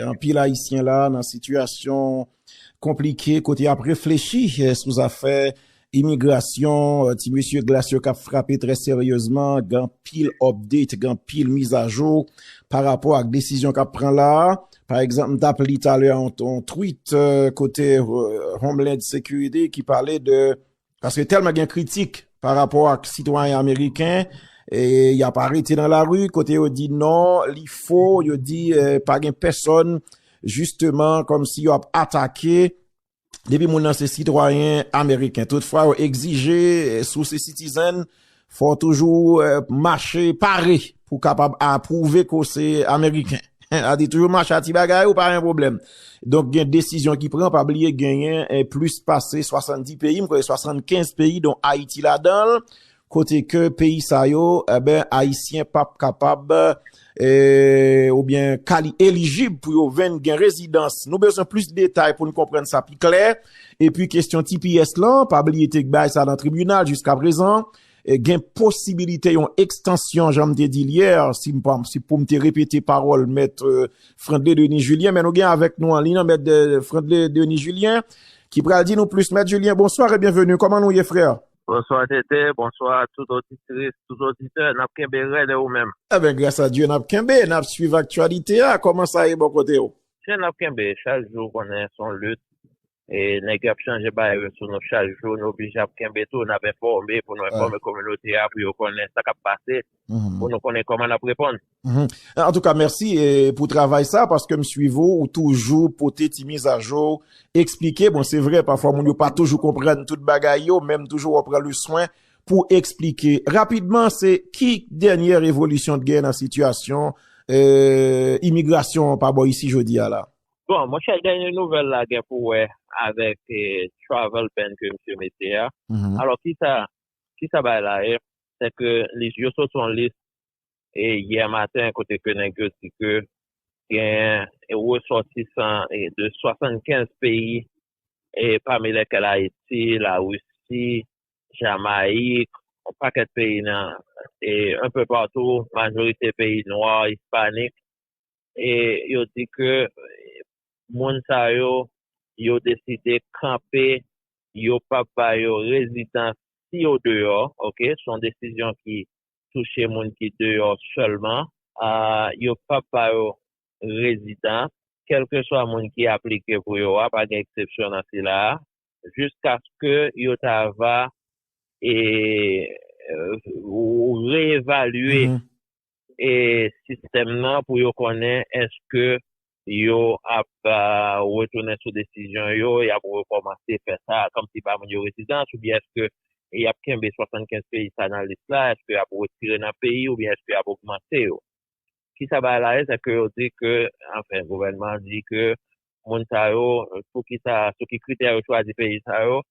Anpil Ayisyen la nan sitiyasyon konplike kote y ap reflechi sou zafè imigrasyon, ti mesye glas yo k ap frape trè seryezman, gen anpil update, gen anpil mizajou pa rapò ak desizyon k ap pran la a. Pa egzanp, m t ap li talè yon tweet kote Homeland Security ki pale de Paske telman gen kritik pa rapò ak sitwayen ameriken, y ap arete nan lari, kote yo di non, li fo, yo di pa gen pèsòn, jisteman, kòm si yo ap atake, depi moun nan se sitwayen ameriken. Tout fwa yo egzije sou se sitizen, Fò w toujou mache pare pou w kapab a pwouve ke w se Ameriken. A di toujou mache a ti bagay ou pa gen pwoblèm. Donk gen desizyon ki pran, pa bliye genyen plis pase 70 peyi, m kwè 75 peyi donk Ayiti ladan l, kote ke peyi sa yo, enben Ayisyen pap kapab. Eee oubyen kali elijib pou yo venn gen rezidans. Nou bezwen plis detay pou n konprann sa pi klè. Epi kestyon tps lan, pa bliye te bay sa nan tribinal jiska prezan, gen posibilite yon ekstansyon jan m te di l yè, si m pa, si pou m te repete pawòl mèt Frandley Denis Julien, men nou gen avèk nou an liy lan mèt Frandley Denis Julien ki pral di nou plis. Mèt Julien, bonswa e byenveni, kòman nou ye frè? Bonswa TT, bonswa tout oditris, tout oditè, nap kenbe rèd e ou menm? Ebyen gras a Dye nap kenbe, nap swiv aktyalite a, kòman sa ye bò kote ou? Chen nap kenbe, chak jou konnen son lit e nèg yo ap chanje bagay yo sou nou chak jou, nou oblije ap kenbe tou, nap enfòme pou nou enfòme kominote a pou yo konnen sa kap pase, pou nou konnen kòman nap reponn. An tou ka mèsi pou travay sa paske m swiv ou ou toujou pote ti mizajou eksplike bon se vre pafwa moun yo pa toujou konprann tout bagay yo menm toujou wap pran le swen pou eksplike rapidman se ki dènyè revolisyon t gen nan sitiyasyon imigrasyon pa bò isi jodi a la. Bon mon chè dènyè nouvèl la gen pou wè avèk travel ban ke misye mete a alò kisa kisa bay la e sè ke yo sot son lis e yè maten kote ke nèg yo di ke gen resòtisan de 75 peyi e pami lèkèl Ayiti, la Risi, Jamayik, yon pakèt peyi nan e un peu partou majorite peyi nwa, ispanik e yo di ke moun sa yo, yo deside kanpe yo pap ba yo rezidans si yo deyò ok, son desizyon ki touche moun ki deyò sèlman, yo p ap ba yo rezidans, kèlkeswa moun ki aplike pou yo a, pa gen eksepsyon nan sila a, jiskaske yo ta va re-evalye sistèm nan pou yo konnen èske yo ap retounen sou desizyon yo, y ap rekòmanse fè sa kòmsi ba moun yo rezidans oubyen èske y ap kenbe 75 peyi sa nan lis la, èske y ap retire nan peyi oubyen èske y ap ogmante yo. Ki sa bagay la ye? Se ke yo di ke, anfen gouvènman an di ke moun sa yo, pou ki sa, sou ki kritè yo chwazi peyi sa yo,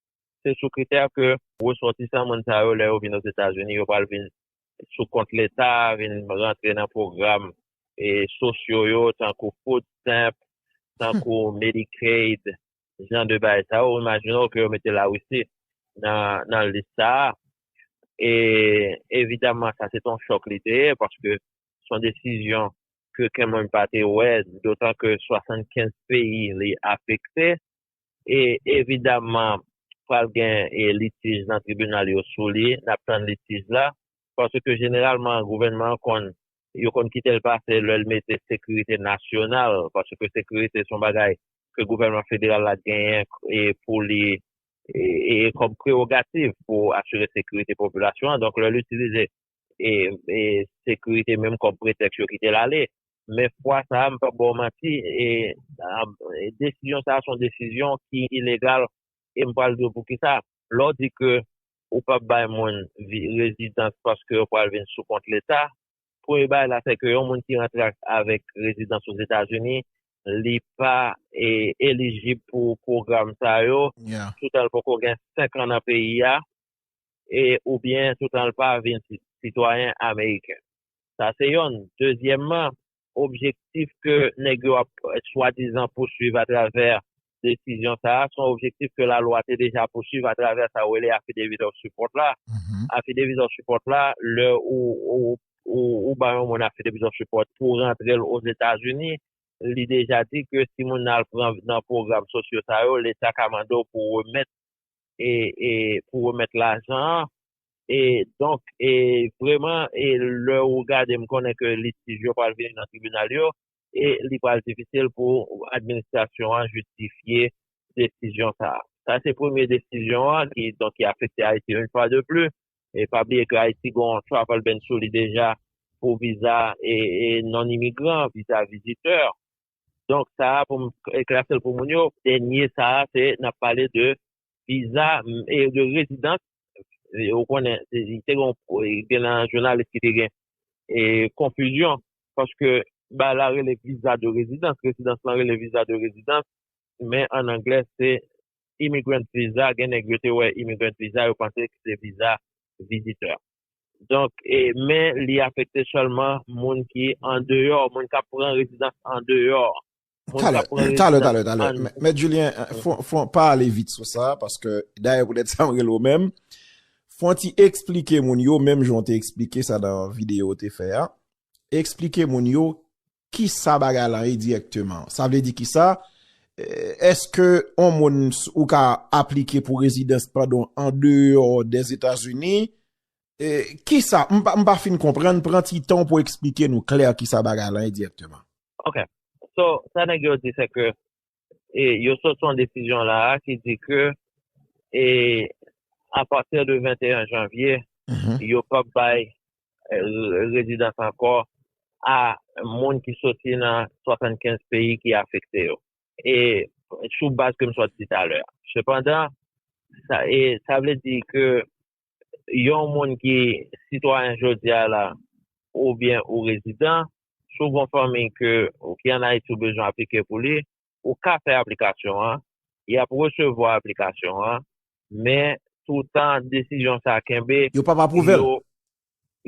se sou kritè ke resòtisan moun sa yo lè yo vin Ozetazini yo pral vin sou kont leta vin rantre nan pwogram sosyo yo tankou food stamp, tankou Medicaid jan de bagay sa yo ou imajine w ke yo mete Lawisi nan lis sa a e evidaman sa se t on chòk li te ye paske s on desizyon ke oken moun pa te wè dotan ke 75 peyi li afekte. e evidaman pral gen litij nan tribinal yo sou li, n ap tann litij la, paske jeneralman gouvènman an konn, yo konn kite l pase lè l mete sekirite nasyonal, paske sekirite se yon bagay ke gouvènman federal la genyen pou li e kòm prewogativ pou asire sekirite popilasyon an, donk lè l itilize sekirite menm kòm pretèks yo kite l ale. Men fwa sa a m p ap ba w manti, desizyon sa a se yon desizyon ki ilegal e m pral di w poukisa. Lè w di ke ou p ap bay moun rezidans paske yo pral vin sou kont Leta, premye bagay la se ke yon moun ki rantre avèk rezidans Ozetazini li pa elijib pou pwogram sa yo toutan l poko gen senkan nan peyi a. e oubyen toutan l pa vin sitwayen ameriken. Sa se yonn. Dezyèmman, objektif ke nèg yo ap swadizan pousuiv atravè desizyon sa a, se yon objektif ke lalwa te deja pousuiv atravè sa yo rele affidavit of support la. Affidavit of support la, lè ou bay yon moun affidavit of support pou rantre l Ozetazini, li deja di ke si moun nan al pran nan pwogram sosyo sa yo, leta ka mande w pou remèt pou remèt lajan an e donk e vreman e lè ou gade m konnen ke litij yo pral vini nan tribinal yo e li pral difisil pou administrasyon an jistifye desizyon sa a. Sa se premye desizyon an ki donk ki afekte Ayiti yon fwa de plis e pa bliye ke Ayiti gen yon travel ban sou li deja pou viza e non-imigran, viza vizitè. Donk sa a pou m klase l pou moun yo, dènye sa a se n ap pale de viza e de rezidans. Ou konnen te gen nan jounalis ki te gen konfizyon paske ba la rele viza de rezidans, rezidans lan rele viza de rezidans men an anglè se immigrant visa, gen nèg yo te wè immigrant visa yo panse se viza vizitè. Donk, men li afekte sèlman moun ki andeyò, moun k ap pran rezidans andeyò. Talè, talè, talè, talè. Mèt Julien, fon pa ale vit sou sa, paske dayè pou tèt sa m rele w menm. Fon ti eksplike moun yo, menm jan w te eksplike sa nan videyo w te fè a, eksplike moun yo Kisa bagay lan ye dirèkteman? Sa vle di kisa? Eske yon moun ou ka aplike pou rezidans padon an deyò dèzetazini? Kisa? M pa fin konprann, pran ti tan w pou eksplike nou klè kisa bagay lan ye dirèkteman. Ok. So, sa nèg yo di se ke yo sòti yon desizyon la a ki di ke apati de 21 janvye yo p ap bay rezidans ankò a moun ki sòti nan 75 peyi ki afekte yo sou baz ke m sot di talè. Sepandan sa vle di ke yon moun ki sitwayen jodi a la oubyen ou rezidan, si w gon fanmi ke ki an Ayiti ou bezwen aplike pou li, ou ka fè aplikasyon an, y ap resevwa aplikasyon an, men toutan desizyon sa kenbe, Yo p ap apwouve l.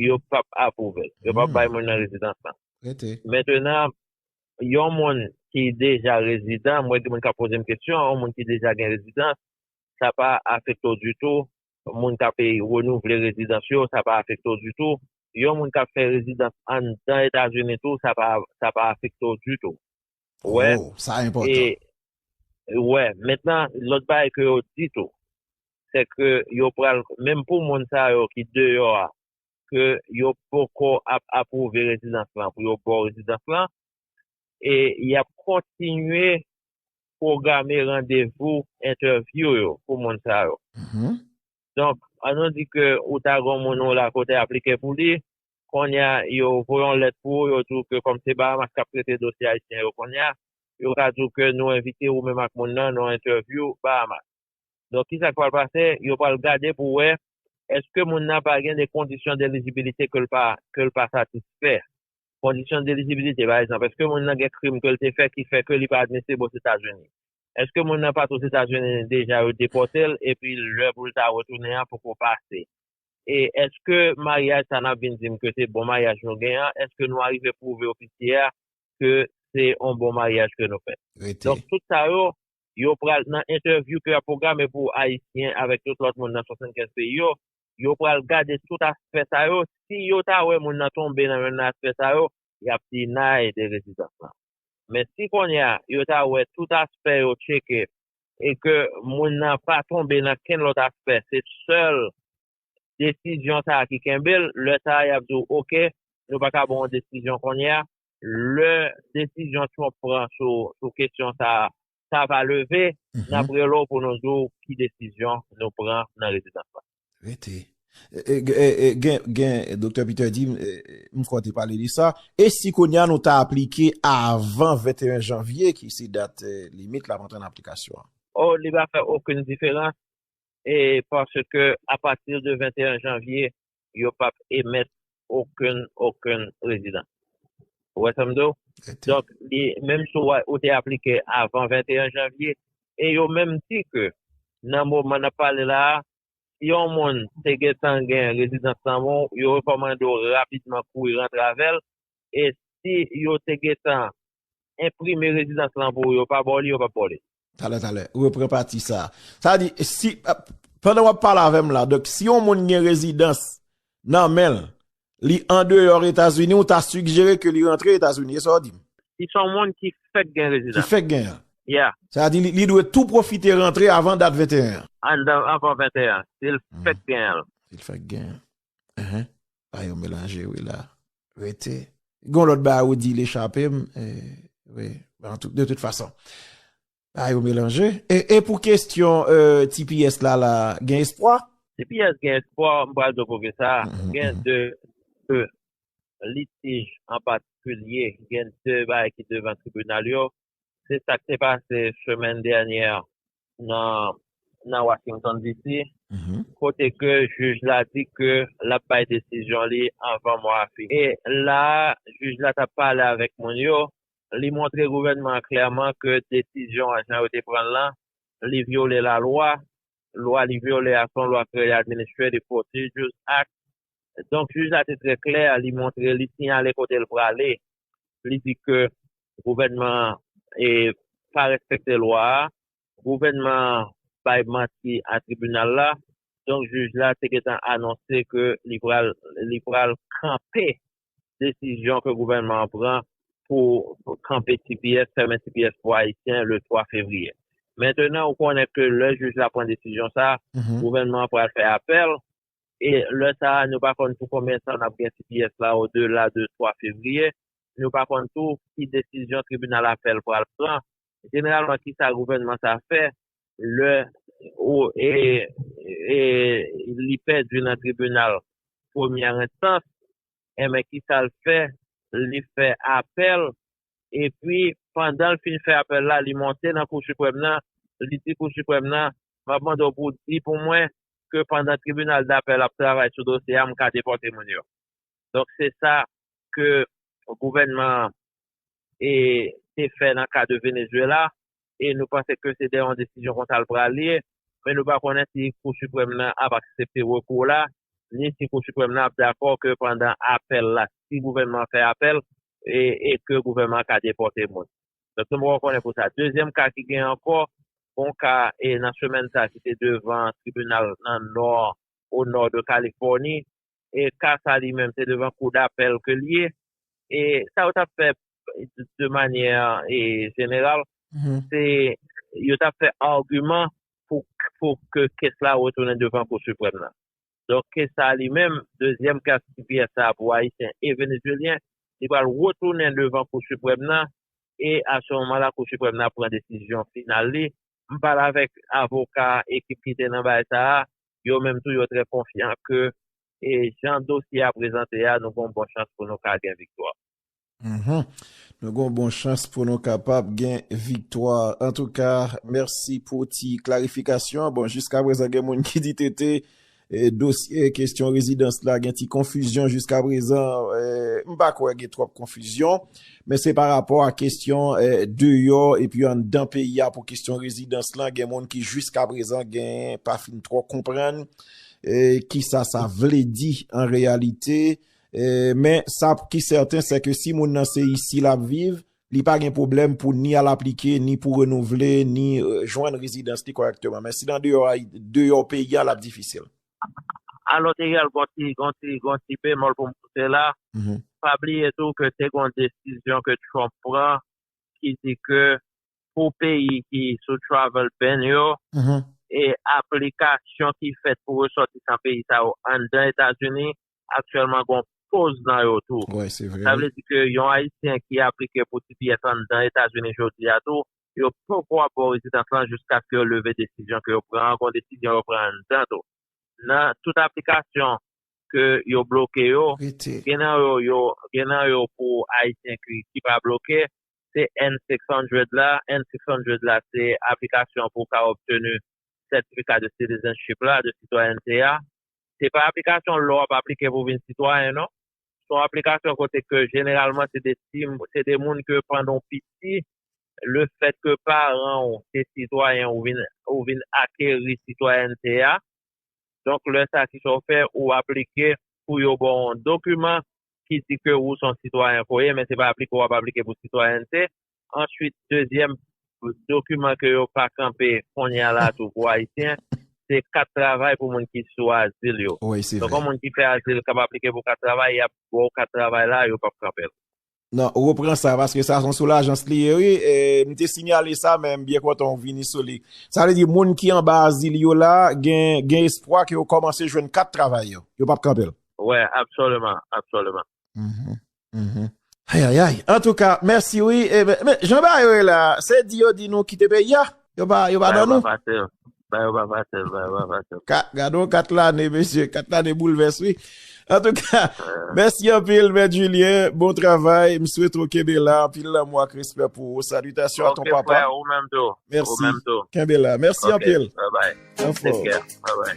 yo p ap apwouve l, yo p ap bay moun nan rezidans lan. Rete. Mentenan, yon moun ki deja rezidan, mwen gen moun k ap poze m kesyon, yon moun ki deja gen rezidans, sa pa afekte w ditou, moun k ape renouvle rezidans yo, sa pa afekte w ditou, yon moun k ap fè rezidans anndan Etazini tou, sa pa, sa pa afekte w ditou. Ou wè? Oh, sa enpòtan. E, ou wè. Mentnan, lòt bagay ke yo di tou, se ke yo pral, menm pou moun sa yo ki deyò a, ke yo poko ap apwouve rezidans lan pou yo ba w rezidans lan, e y ap kontinye pwograme randevou entèvyou yo pou moun sa yo. Donk, an nou di ke ou ta gen yon moun ou lakòt te aplike pou li, kounye a, yo voye yon lèt pou ou, yo di ou ke kòm se Bahamas k ap trete dosye ayisyen yo kounye a, yo ka di ou ke nou envite ou menm ak moun nan nan yon entèvyou Bahamas. Donk, kisa k pral pase? Yo pral gade pou wè èske moun nan pa gen de kondisyon delijibilite ke l pa satisfè Kondisyon d'elijibilite, pa egzanp, èske moun nan gen krim ke l te fè ki fè ke li pa admisib Ozetazini? Èske moun nan pat Ozetazini deja yo depòte l epi lè pou l ta retounen an poko pase? E èske maryaj sa nap vin di m ke se bon maryaj nou gen an, èske nou arive pwouve ofisye a ke se on bon maryaj ke nou fè? Rete. Donk tout sa yo, yo pral nan entèvyou ke yap pwograme pou Ayisyen avèk tout lòt moun nan 75 peyi yo, yo pral gade tout aspè sa yo, si yo ta wè moun nan tonbe nan youn nan aspè sa yo, y ap dinay de rezidans lan. Men si kounye a, yo ta wè tout aspè yo tcheke e ke moun nan pa tonbe nan kenn lòt aspè, se sèl desizyon sa a ki kenbe l, lè sa a y ap di w ok, nou pa ka ban w yon desizyon kounye a. Lè desizyon Trump pran sou kesyon sa a sa va leve, n ap rele w pou nou di w ki desizyon nou pran nan rezidans la. Rete. Gen, Doktè Peter di m, m kwè w te pale de sa, e si kounye a nou ta aplike avan 21 janvye ki se dat limit l ap antre nan aplikasyon an? O, li va fè okenn diferans, e paske apati de 21 janvye, yo pap emèt okenn okenn rezidans. Ou wè sa m di w? Donk, menm si ou te aplike avan 21 janvye, e yo menm di ke nan moman n ap pale la a, si yon moun te gen tan gen rezidans nan men w, yo rekòmande w rapidman kouri rantre avè l, e si yo te gen tan enprime rezidans lan pou ou yo pa baw li yo pap baw li. Talè talè repran pati sa. Sa di si pandan wap pale avèm la donk si yon moun gen rezidans nan menl li andeyò etazini ou ta sigjere ke li rantre etazini e sa ou dim? Si son moun ki fèk gen rezidans. Ki fèk gen an. Yeah. Sa di li dwe tou pwofite rantre avan dat 21 an. Andan avan 21 an. Sil fèk gen an. Sil fèk gen an. Ehe. Ba yo melanje wi la. Rete. Gon lòt ba ou di li chape m. Wi. De tout fason. Ba yo melanje. E pou kestyon tps la la gen espwa? Tps gen espwa m pral di w pou ki sa. Gen de litij an patikilye. Gen de bagay ki devan tribinal yo. Se sa k te pase semèn dènyè nan Washington DC, kote ke jij la di ke l ap bay desizyon li anvan mwa a fini. E la a, jij la t ap pale avèk moun yo, li montre gouvènman an klèman ke desizyon an, jan yo te pran l lan, li vyole lalwa. Lwa li vyole a se yon lwa kreye Administrative Procedures Act, Donk jij la te trè klè, li montre, li siyale kote l prale, li di ke gouvènman an pa respekte lwa a, gouvènman an bay manti a tribinal la, donk jij la te gentan anonse ke li pral kanpe desizyon ke gouvènman an pran pou kanpe tps, fèmen tps pou ayisyen le 3 fevriye. Mentenan ou konnen ke lè jij la pran desizyon sa, gouvènman an pral fè apèl, E lè sa a, nou pa konn pou konbyen tan n ap gen tps la odela de 3 fevriye. Nou pa konn tou ki desizyon tribinal apèl pral pran. Jeneralman, ki sa gouvènman sa a fè lè li pèdi nan tribinal premyè enstans? Enben, ki sa l fè? Li fè apèl epi pandan l fin fè apèl la li monte nan Kou Siprèm nan, li di Kou Siprèm nan, m ap mande w pou w di pou mwen ke pandan tribinal dapèl ap travay sou dosye a m ka depòte moun yo. Donk se sa ke gouvènman an e te fè nan ka de Venezuela e nou panse ke se de yon desizyon konsa l pral ye, men nou pa konnen si Kou Siprèm nan ap aksepte rekou w la, ni si Kou Siprèm nan ap dakò ke pandan apèl la, si gouvènman an fè apèl, e ke gouvènman an ka depòte moun. Donk nou poko konnen pou sa. Dezyèm ka ki gen ankò, gon ka e nan semèn sa ki te devan tribinal nan nò, o nò de Kalifòni, e ka sa li menm se devan kou dapèl ke l ye, e sa yo t ap fè de manyè e jeneral, se yo t ap fè agiman pou ke kes la retounen devan kou siprèm nan. Donk ke sa li menm, dezyèm kas ti pyè sa pou Ayisyen e Venezyelyen, li pral retounen devan Kou Siprèm nan e a se moman la Kou Siprèm nan ap pran desizyon final li. M pale avèk avoka ekip ki te nan bagay sa a, yo menm tou yo trè konfyan ke e jan dosye a prezante a nou gon bon chans pou nou ka gen viktwa. Nou gon bon chans pou nou kapab gen viktwa. Antouka, mèsi pou ti klarifikasyon an. Bon, jiska prezan gen moun ki di TT, dosye kestyon rezidans la gen ti konfizyon jiska prezan. M pa kwè gen twòp konfizyon. Men se pa rapò a kestyon deyò epi anndan peyi a pou kestyon rezidans la gen moun ki jiska prezan gen pa fin twò konprann kisa sa vle di an reyalite. Men, sa ki sèten, sè ke si moun nan se isi l ap viv, li pa gen pwoblèm pou ni al aplike, ni pou renouvle, ni jwenn rezidans li kòrèkteman. Men, si l andeyò a, deyò peyi a, l ap difisil. Alò, te al gon ti, gon ti, gon ti bemòl pou m pote la. Pa bliye tou ke te gon desizyon ke Trump pran ki di ke pou peyi ki sou travel ban yo, e aplikasyon ki fèt pou resòtisan peyi sa yo anndan Etazini, aktyèlman gon poz nan yo tou. Wè se vre wi. Sa vle di ke yon ayisyen ki aplike pou tps anndan etazini jodi a tou yo poko ap baw rezidans lan jiskaske yo leve desizyon ke yo pran an gon desizyon yo pran anndan tou nan tout aplikasyon ke yo bloke yo Rete. gen nan yo yo gen nan yo pou ayisyen ki ki pa bloke se N 600 la N 600 la se aplikasyon pou w ka obtenu certificat de citizenship la de sitwayènte a Se pa aplikasyon lè w ap aplike pou vin sitwayen non. Se yon aplikasyon kote ke jeneralman se de ti, se de moun ke pandan w piti, le fèt ke paran w se sitwayen ou vin, ou vin akeri sitwayènte a. Donk lè sa ki sa w fè, ou aplike pou yo ba w yon dokiman ki di ke ou se yon sitwayen ke w ye men se pa aplike w ap aplike pou sitwayènte. Answit dezyèm dokiman ke yo pa kanpe kounye a la tou pou ayisyen se kat travay pou moun ki sou azil yo. Wi se vre. Donk yon moun ki fè azil kap aplike pou kat travay yap baw kat travay la yo pap kanpel. Non, repran sa paske sa son soulajans li ye wi e m te sinyale sa men m byen kontan ou vini sou li. Sa vle di moun ki anba azil yo la gen gen espwa ke yo kòmanse jwenn kat travay yo. Yo pap kanpel. Wi absoliman, absoliman. Ayayay antouka mèsi wi men jan bagay yo ye la se di yo di nou kite peyi a yo pa yo pa ban nou ba yo pa fasil ba yo pa fasil gadon 4 lane mesye 4 lane boulvès wi antouka mèsi anpil mèt Julien bon travay m swete ou kenbe la anpil lanmou ak respè pou ou salitasyon a ton papa mèsi kenbe la mèsi anpil ok frè ou menm tou mèsi anpil anfò